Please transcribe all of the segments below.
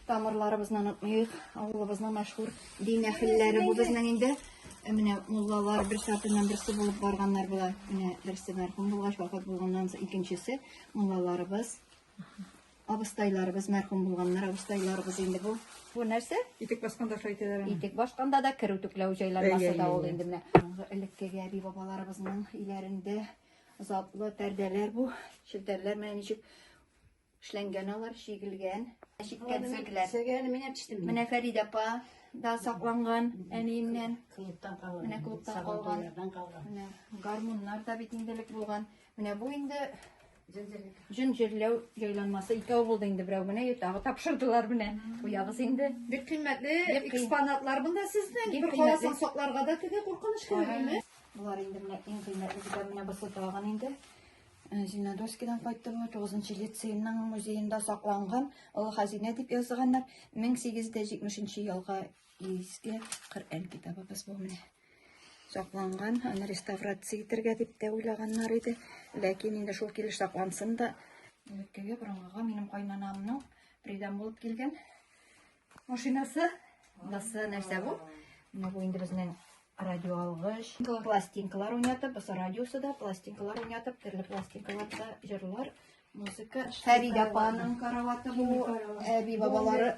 Тамырларыбызны онытмыйк, авылыбызның мәшһүр дин әһелләре бу безнең инде. Ә менә муллалар бер сатыннан берсе булып барганнар була. Менә берсе мәрхүм булгач вафат булганнан соң икенчесе муллаларыбыз. Абыстайларыбыз мәрхүм булганнар, абыстайларыбыз инде бу. Бу нәрсә? Итек басканда шайтәләр. Итек басканда да керү төкләү җайланмасы да ул инде менә. Элеккеге әби бабаларыбызның иләрендә затлы пәрдәләр бу, челтәрләр менә ничек Эшләнгән алар, чигелгән. Чиккән сөякләр. Сөякләр мин әчтем. Менә Фәридә апа да сакланган әниеннән. Клубтан калган. Менә клубтан калган. Менә гармуннар да бит инделек булган. Менә бу инде Җен җирләү җайланмасы икәү булды инде берәү генә тагы тапшырдылар менә. Куябыз инде. Бик кыйммәтле экспонатлар монда сезнең. Бер каласаң сакларга да теге куркыныч килми. Болар инде менә иң кыйммәтле китап менә бу сотаган инде. Э, Зинадовскидан кайттым, 9 лицейның музеенда сакланган олы хәзинә дип язганнар. 1870 елга иске Коръән китабыбыз бу менә. Сакланган, аны реставрация итәргә дип тә уйлаганнар иде. Ләкин инде шул килеш саклансын да, элеккеге борынгыга минем кайнанамның придан булып килгән Машинасы, басы нәрсә бу? Менә бу инде безнең радио алгыч. Пластинкалар уйнатып, басы радиосы да, пластинкалар уйнатып, төрле пластинкаларда җырлар, музыка. Фәрид апаның караваты бу, әби бабалары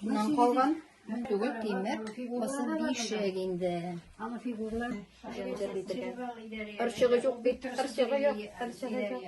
нан калган. Түгел тимер, басы бишек инде. Аны фигуралар. Ырчыгы юк бит, ырчыгы юк, ырчыгы юк.